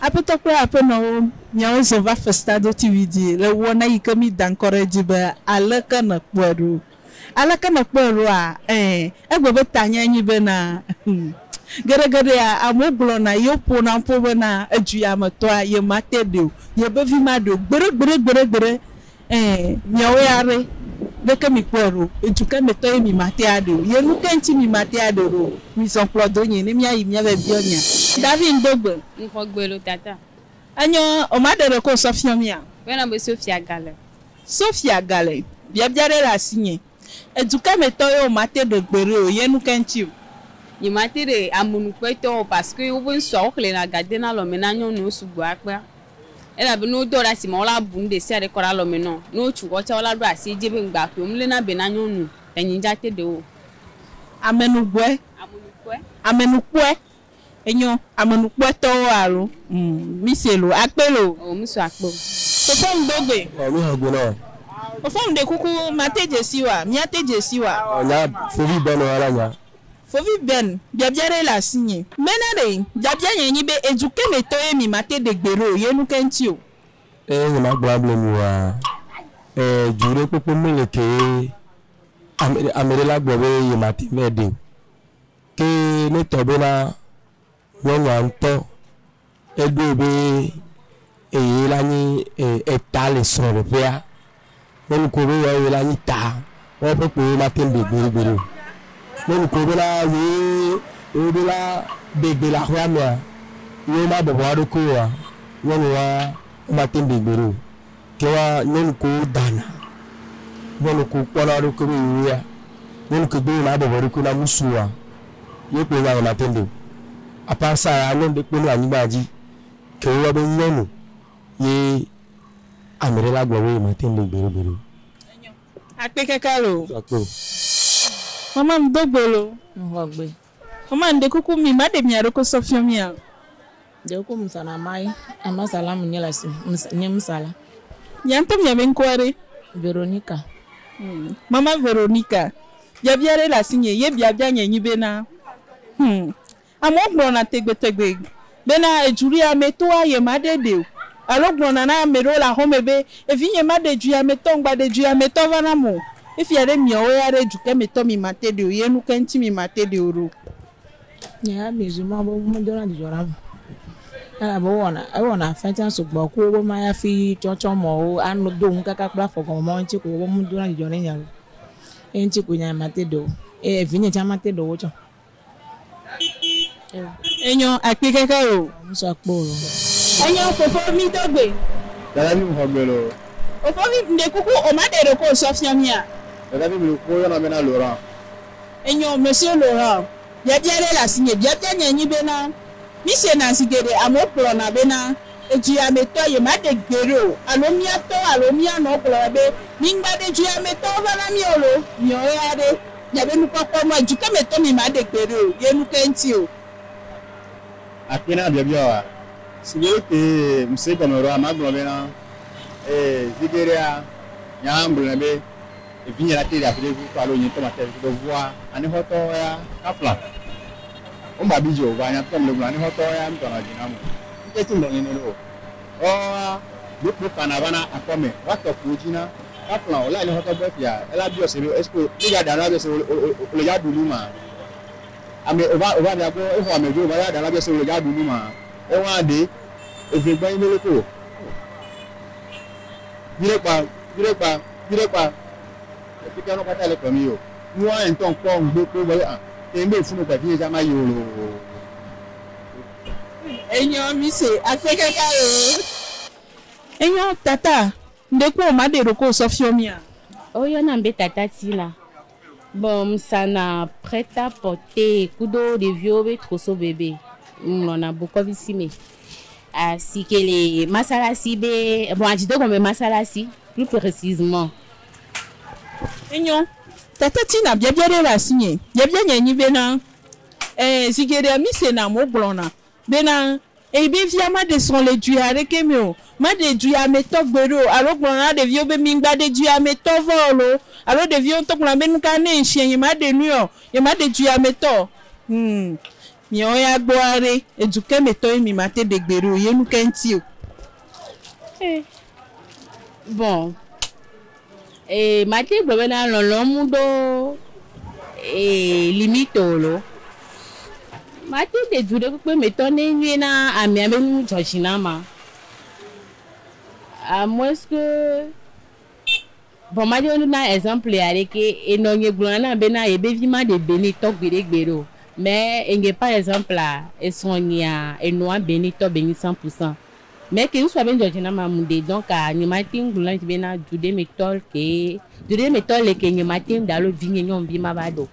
Aƒetɔ kple aƒenɔwo, miawo zɔ va festa doti vivi le wɔna yi ke mí da ŋkɔ ɖe edzi be Aleke Nèkpɔe Ɖo? Aleke Nèkpɔe Ɖoa? Ẽ, egbe be tanyae nye bena, Geɖegeɖea, amewo gblɔna ye woƒona ƒo bena, Edu ya me tɔa, yemate ɖi o, yebevi maɖi o, gbeɖe, gbeɖe, gbeɖe, gbeɖe. Ẽ, miawo ya ɖe, leke mikpɔe ɖo? Dukɛ me tɔ ye mi ma te aɖe o ye nukɛ ŋti mi ma te aɖe ɖo? Mizɔ kplɔ do nye ne mia yi mia vɛ biɔ nya. David ŋdo gbe. Ŋxɔ gbe lo tata. Enyɔ o ma ɖeɖe ko ŋsɔ fiɔ mia? Bena be Sophia gale. Sophia gale. Biabia ɖe le asinye. Edu ke me tɔ yeo mate ɖe gbeɖe o ye nu ke ŋtsi o. Nye mate ɖe amonu kpe tɔ o parce que wobe ŋsua wo xlena ga dena alɔme na nyɔnuwo sugbɔ akpea. Elabe ne wodɔ ɖa sime wola bu nuɖe sia ɖe kɔ ɖe alɔme nɔn, ne wotsu xɔ tsa wola ɖo asi edzi ebe ŋgba ƒoe o. Mlena be na nyɔnu le nye ŋdza te ɖe o. Amenu gbɔe. Amonu kpɔe. Amenu kpɔe. Enyo. Amenukpɔtɔwo alo mise lo akpe lo. O mi so akpe o. Fofo ŋ do gbe. O mi he gbe na o. Fofo ŋ ɖe kuku ma te dze si wa, mia te dze si wa. O nya fovi Ben wa la nya. Fovi Ben, biabia ɖe le asi nye. Be na ɖe, biabia nye nyi be edu ke me tɔ ye mi ma te ɖe gbe ɖo ye nu ke ŋti o. Eye nye ma gblɔ able mi wa, e du ɖe kpokpo me le ke ye ame ɖe la gblɔ be ye ma te ŋ va ɖe o. Eye netɔ be na nyɔnua ŋutɔ eɖoe be eye la nyi eta le srɔ̃ɖeƒea. Ne nu ko be ya eye la nyi ta, woa ƒe kpo ye ma te ŋu ɖe gbe gbe ɖeo. Ne nu ko be na ye wo ɖo la ɖe gbe le aƒea mea, ye wo ma bɔbɔ eɖokui oa, nyɔnua ma te ŋu ɖe gbe ɖeo. Ke wa nyɔnu kewo dana nyɔnu kewo kpɔna eɖokui be yewoya nyɔnu ke do yina bɔbɔ eɖokui na musu wa ye kpoe nya yina tɛnde o. Apart sa ya nyɔnu ɖe kpoe mele anyigba dzi ke wo yɔ be nyɔnu ye ameɖe la gblɔ be yema tɛnde gbeɖe gbeɖe o. Akpe keke loo. Mama mi do gbe loo. Ŋxɔ gbe. Mama ŋde kuku mi ma ɖe mia ɖoko sɔ fiɔ mia o. Ŋde kuku mi sana mai ama sala mi nye le asi nye mi sala. Mia ŋtɔ mia be ŋkua ɖe? Veronica. Hm mama Veronica biabia ɖe le asi nye ye biabia nye nyi be na hm amewo gblɔna tegbe tegbe Bena edzuiamɛtɔa yemaɖe ɖɛ o. Alo gblɔna na ame ɖewo le axɔme be, Evinye, maɖe edzuiamɛtɔ, ŋgbaɖe edzuiamɛtɔ va nam o. Efia ɖe miawo ya ɖe edzukemɛtɔ mimate ɖɛ o, ye nu ke ŋuti mimate ɖɛ o ɖo? Nye ya mizu mɔ be womedona dzudzɔ nam o, elabe wowɔna, ewɔna afɛntia sugbɔ ku wobe ma ya fi tsɔtsɔ mɔ wo ano do ŋukaka kple afɔ gɔme mɔ ŋtsi ko wobe womedona dzudzɔ ne nya o. Ye ŋtsi ko nye ya mate ɖe wo, ye evinye tsa mate ɖe wo tsã o. Enyɔ akpi keke o. Ŋsu akpɔ o lɔ. Enyɔ fofo mi do gbe. Dada vi ŋxɔ gbe lɔ. Fofo vi ŋde kuku o ma ɖe ɖoko sɔ fiɔ mia. Dada vi ŋde kuku o yɔna be na Laurent. Enyɔ monsieur Laurent biabia ɖe le asinye biabia nye nyi be na mi se na zi geɖe amewo kplɔna be na eduyame tɔ ye ma ɖe gbe ɖo alo mia tɔ alo mia nɔ kplɔna be mi ŋgba ɖe duyame tɔwo va na mia o lo miɔ ɣeaɖe Nye be nukpɔkpɔ nua dzi ke me tɔ mi ma ɖe gbe ɖe o ye nu ke ŋti o. Akpe na biabia wa si be wo te ŋse gɔme ɖoa ma gblɔ be na ee zi geɖea nya la ŋgblɔ nɛ be evinye la te ɖe afi ɖe ŋu kpɔ alo nye ŋtɔ ma te ɖe afi ɖe ŋua anexɔtɔ ya ka fla wo mba bi dzi o vɔa nya tɔ mle gblɔ na anexɔtɔ ya ŋtɔ na dzi na mo ŋke tse ŋgblɔ nɛ nɛ ɖo o. Ɔɔa, míekplɔ Kana va na akɔ mɛ woatɔ kuwo dzi na Kafla o la enye xɔtɔ be fia ela biɔ se be esko mi ya ɖa labiɔ se o le o o le ya ɖu nu ma ame o va o va fia gbɔ exɔ ame vi o va ya ɖa labiɔ se o le ya ɖu nu ma ewa ɖe eve gbɔ nyi me loko o vi ɖe kpa vi ɖe kpa vi ɖe kpa ekpekpe nɔ kpata le kpɔ mi o nu wa ŋtɔ ŋkpɔ ŋgbe kpo gbɔ yo a te ŋgbe funu kpa vi ye dza ma yi o lo. Enyɔ mise akpe kaka oo. Enyɔ tata ŋɖe kpɔ o maɖe ɖokɔ o sɔ fiɔ mia. Wo yɔnam be tata Tina. Bon ŋsana prêt à porter kudo ɖeviwo be koso bebe ŋlɔna bokɔvisi me asi ke le masalasi be bon adzidegɔme masalasi plus precisement. Enyɔ tata Tina biabia ɖe le asinye biabia nye nyi be na. Ẽ, zi geɖe misena wogblɔna bena, Eyibevia maɖe srɔ̃ le dui aɖeke me o, maɖe duiametɔ gbeɖe o. Alo wogblɔna na ɖeviwo be, Migbaɖe duiametɔ vɔ o loo. Alo ɖeviwo ŋutɔ gblɔna be, Nuka ne ŋ siẽ nyemaɖe nui ɔ, nyemaɖe duiametɔ o. Hum, miawo ya gbɔa ɖe, edukɛ me tɔ ye mi mate ɖe gbeɖe o ye nuke ŋti o? Ẽ, vɔ. Ee, mate ŋu gblɔ bena lɔlɔ̃m ɖo ee limite o loo. Mate de du ɖekpekpe me tɔ ne enye na amea be nu dzɔ dzi na ma. A moins que, vɔ mate ŋu na exemple aɖe ke, enɔ nye gblɔna nam bena yebe vi maɖe Benitɔ gbeɖe gbeɖe o. Mais eŋgɛ par exemple esrɔ̃nyea enɔa Benitɔ benyi cent pour cent. Mɛ ke ŋsua be ŋdzɔ dzi na ma mu ɖe donc a nye ma teŋ gblɔ na ŋtsi be na du ɖe me tɔl ke du ɖe me tɔl le ke nye ma teŋ ɖe alo vi nye nyɔnuvi ma va ɖeo.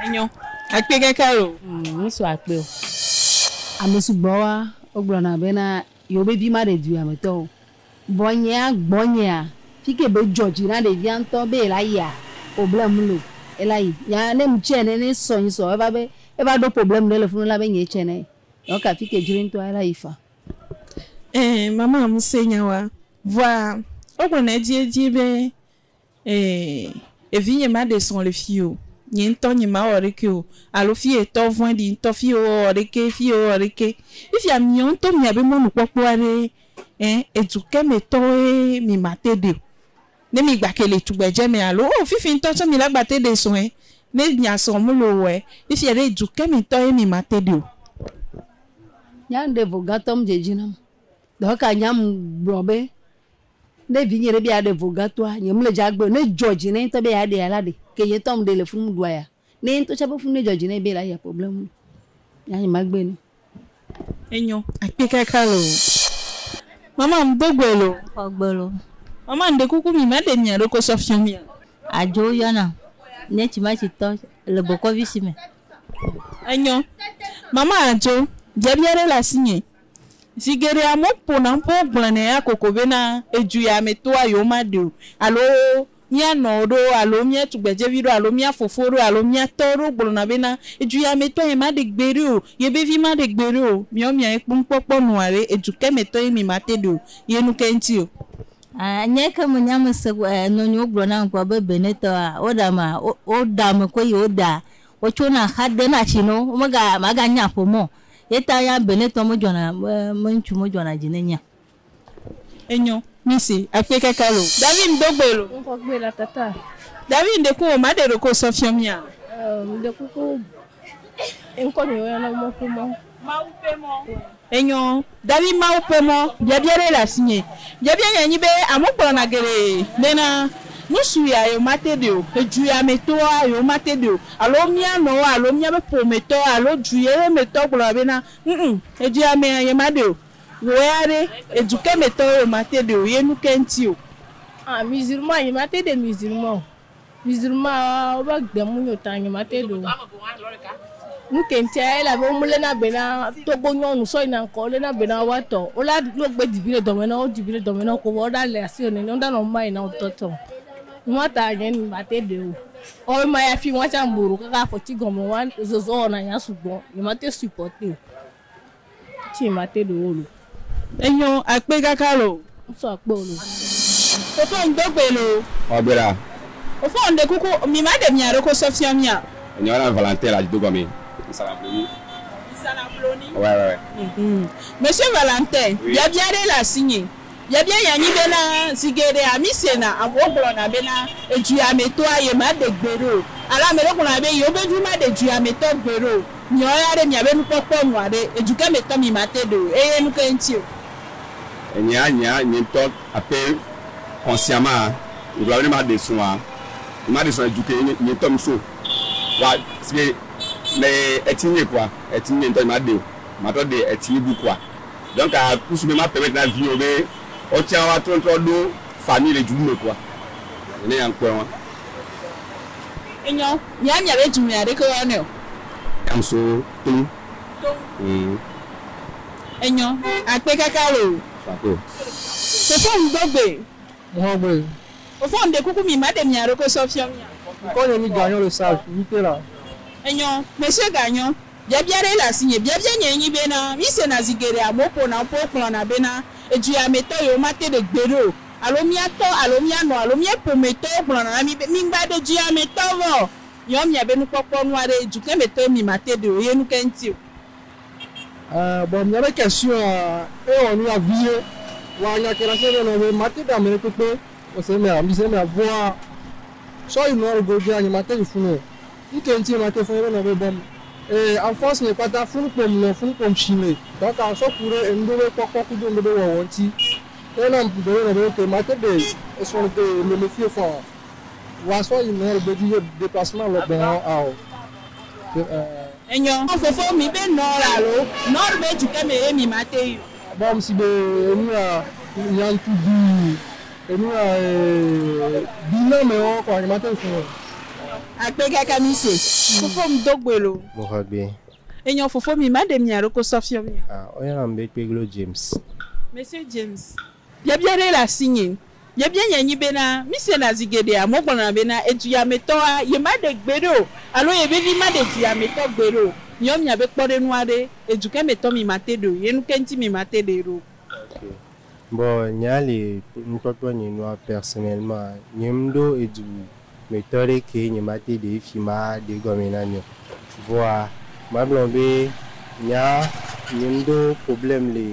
Enyo. Akpe kaka lo. Umm ŋsu akpe o. Ame sugbɔ wa wo gblɔ na be na yewo be vi ma ɖe du ya me tɔ o. Vɔ nye a gbɔ nye a fike be dzɔ dzi na ɖevia ŋtɔ be ela yi a o ble ŋ lo ela yi. Nya ne ŋtsi ene ne sɔ nyi sɔ eva be eva ɖo problem ɖe le funu la be nye tsɛ ne. Nɔ ka atike dzri ŋtɔ a la yi fa. Ẽ mama ŋusẽ nya wa. Vɔa wo gblɔ nɛ edzi edzi be ẽ evi nye ma ɖe srɔ̃ le fio nye ŋtɔ nye ma wɔ ɖeke o alo fi ye tɔ vɔɛ ɖi ŋtɔ fi ye wo wɔ ɖeke fi ye wo wɔ ɖeke yi fia miɔ ŋtɔ mia be mɔnu kpɔkpɔ aɖe ẽ edu ke me tɔ woe mi ma te ɖe o. Ne mi gba ke le tugbedze me alo o fifi ŋtɔ tsɔ mi la gba te ɖe sɔe ne mia sɔ mu lo wɔe ifia ɖe du ke me tɔ ye mi ma te ɖe o. Nyaŋ ɖe vo gatɔ ŋdze dzi nam dɔ ka nya ŋ gblɔ be ne vi nye ɖe be ya ɖe vo gatɔa nye ŋle dza gbe o ne dzɔ dzi ne ŋtɔ be ya ɖea la ɖe ke nye ŋtɔ ŋ ɖe le funu ŋ ɖua ya. Ne ye ŋutɔ tsɛ be fu ne dzɔ dzi nɛ be yela yia problème me ya nye magbe nɛ. Enyo akpe kaka lo. Mama mdo gbe lo. Xɔ gbe lo. Mama ŋɖe kuku mi ma ɖe mia ɖoko sɔ fiɔ mia. Adzo yɔ nam nye tsi ma tsi tɔ le bɔkɔvi si me. Enyo. Mama adzo biabia ɖe le asi nye. Zi geɖe amewo ƒona ƒe wo gblɔ nɛ ya koko be na edu ya me toa yewo ma ɖeo alo mía nɔwo ɖo alo mía tugbedzevi ɖo alo mía fofo ɖo alo mía tɔ ɖo gblɔna be na edu ya me tɔ ye ma ɖe gbe ɖe o ye be vi ma ɖe gbe ɖe o miawo mia ye kpɔm kpɔkpɔ nua be edu ke me tɔ ye mi ma te ɖe o ye nu ke ŋti o. Aa nye ke me nya me se kpɔ aa nɔ nyi wo gblɔ nam kpɔ be Benin tɔ aa wo ɖa ma wo wo ɖa me koe yi wo ɖa wo tso na xa de na tsi nɔwo wo me ga ma ga nya ƒomeo ye ta ya Benin tɔ me dzɔna be ŋtsu me dzɔna dzi ne nyia. Enyo. Mi si, akpe kaka lo. David ŋdo gbe lo. Ŋkɔ gbe la tata. David ŋde ku o ma ɖe ɖoko sɔ fiɔ mia? Emm de kuku ŋkɔ mi woyɔ na mɔ ku mɔ. Mawu ƒe mɔ. Enyo. David Mawu ƒe mɔ. Biabia ɖe le asinye. Biabia nya nyi be amewo gblɔna geɖe bena nu su ya yewo ma te ɖe o, edu ya me tɔa yewo ma te ɖe o, alo mia nɔwo alo mia be ƒome tɔ alo du ye me tɔ gblɔna bena ŋm edu ya mea ye ma ɖe o. Wò ya ɖe, edu ke me tɔwo o mate ɖe o ye nuke ŋti o? Ah musulman nye mate ɖe musulman o musulman wo be gbe mu nyo ta nye mate ɖe o nuke ŋtia elabe wo me le na be na Togo nyɔnu sɔ yina ŋkɔ wo le na be na woa tɔ wo la ne wo gbe di viɖe dɔme na wo wo di viɖe dɔme na wo ko vɔ wo ɖa le asiwò nene wo ɖa nɔ muma yina ŋtɔ tɔ nua ta nye nu mate ɖe o ɔ ema ya fi nua tsa ŋbu ɖo kaka afɔti gɔme wa zɔzɔ wɔna nya sugbɔ nye mate supporte o. Tsi mate ɖo wo lo. Enyo akpe kaka lo. Ŋsɔ akpe wo lo. Fofo ŋdo gbe lo. Xɔ gbe ɖa. Fofo ŋɖe kuku mi ma ɖe mia ɖoko sɔ fiɔ mia. Enyɔ na Valentin le adzi do gɔme. Ŋsana bloni. Ŋsana bloni. Wɛ wɛ wɛ. Monsieur Valentin, biabia ɖe le asinye. Yebia nya nyi bena, Zi geɖea mí sena amewo gblɔna bena edziamɛtɔa ye maɖe gbeɖe o. Alo ame ɖewo gblɔna be yewo be vi maɖe dziamɛtɔ gbeɖe o. Miawo ya ɖe miabe nukpɔkpɔ nua ɖe? Edukɛ mɛtɔ mi mate ɖe o eye nukɛ ŋti o? Enye anya nye ŋtɔ ape xɔsia ma ŋgblɔ be ne ma ɖe srɔa, nye ma ɖe srɔa edu ke nye ŋtɔ mi so wa si ke me etsi nye kɔa etsi nye ŋtɔ nye ma ɖe o. Ma trɔ ɖe etsi bu kɔa. Donc à coup sûr be ma permettre na viwo be woatsã woa trɔ trɔ ɖo famille le djoume kua nene ya ŋkpɔe wa. Enyɔ. Mia mia be djoume ya ɖeke woa nɛ o. Yam so toŋ. Toŋ. Humm. Enyɔ. Akpe kaka loo. Fako. Fofo ŋ do gbe. Mɔhɔ gbe. Fofo ŋ ɖe kuku mi ma ɖe mia ɖokui sɔ fiɔ mia. Ŋkɔ nye mi ganyɔ le sage, mi te la. Enyɔ. Monsieur ganyɔ. Biabia ɖe le asinye. Biabia nyee nyi bena, mísena zi geɖe amewo ƒona woƒe wogblɔna bena eduyamɛtɔ yewomate ɖe gbeɖe o, alo mía tɔ alo mía nɔ alo mía ƒometɔwo gblɔna na mí be, Migba ɖe duyamɛtɔ vɔ o, miwɔ miabe nukpɔkpɔ nu aɖe, dukemɛtɔwo mimate ɖe o ye nuke ŋuti o. Ẽ, vɔ miabe ke suea ewɔ nu ya vie. Wa nya ke ɖe asi nɔnɔ be mate ɖe ame ɖe kpekpe o se mea, mise mea vɔa, sɔ yi nɔa ɖe go via, nyemate yi funu o. Ŋkee ŋtie ma te fɔn be na be bɔm ee en force me kpata fun kpom nɔ fun kpom shi me dɔka sɔ ku ɖe enuɖo be kpɔkpɔ kudo enuɖo be wɔwɔ ŋti ye na ŋku gbe be nɔ be ok ma te ɖe esɔ ŋde lo me fie fɔn a wa sɔ yi nɔ ŋgbe dzi ye deplacement lɔ gbɔn a o ke ee. Enyɔ ŋ fofo mi be nɔ ɔ alo nɔ ɔ be dukɛ me ye mi ma te yi o. Bɔm si be enu a nya ŋku duu. Enu ya eeee bi na me ɔ kɔa nye ma te ŋu sɔ. Akpe kaka mi se. Fofo mi do gbe lo. Mo xɔ gbe. Enyɔ fofo mi ma ɖe mia ɖoko sɔ fiɔ mia. A o yɔna mi be kpeglo James. Monsieur James, biabia ɖe le asi nye. Biabia nye nyi be na, mi se na zi geɖe amewo gblɔ na be na edu ya me tɔ a ye ma ɖe gbe ɖe o alo ye vevi ma ɖe du ya me tɔ gbe ɖe o. Miɔ mia be kpɔɖe nu aɖe, edu ke me tɔ mi ma te ɖe o, ye nu ke ŋuti mi ma te ɖe ɖe o. Ok bon nya li ŋkpɔkpɔ nye nua personnellement nye ŋɖo edu me tɔ ɖe ke nye ma te ɖe efi ma ɖe egɔme na nye o vɔa ma gblɔ be nya nye ŋɖo problème le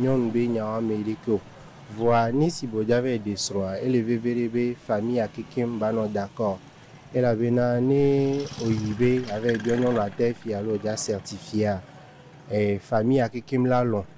nyɔnu be nya wa me ɖe ke o vɔa nisi be dza vayi ɖe srɔa ele veve ɖe be famille ya kekem ba nɔ d'accord elabena ne oyi be ya vayi biɔ nyɔnua ta efi alo dza certifier a e famille ya kekem la lɔ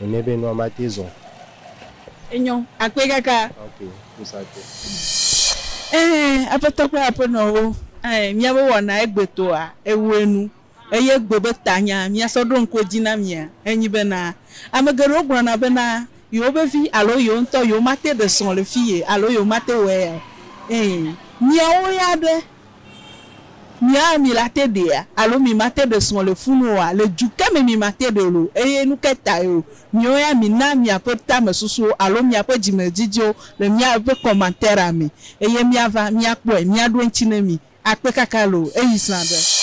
Nene be nua mate zɔ. Enyo, akpɔe kaka. Ok, kusa te. Ɛɛ, Aƒetɔ kple aƒenɔwo, ɛɛ, míabe wɔna egbetɔa, ewɔe nu. Eye egbe be tanya míasɔ ɖo ŋku edzi na mia, enyi bena, ame geɖewo gblɔna bena yewobe vi alo yewo ŋutɔ yewomate ɖe srɔ̃ le fiye alo yewomate wɔe ya o. Ɛɛ, miawo ya ɖe, Mi a mi la te ɖe a alo mi ma te ɖe srɔ̃ le funu o a? Le ju ke me mi ma te ɖe lo, eye nu ke tae o? Miwo ya mi na miaƒe tame susuwo alo miaƒe dzime dzidziwo le mia ƒe kɔmanteria me, eye mia va, mia kpɔe, mia ɖo eŋtsi ne mi. A kpe kaka lo, eyi srã ɖe.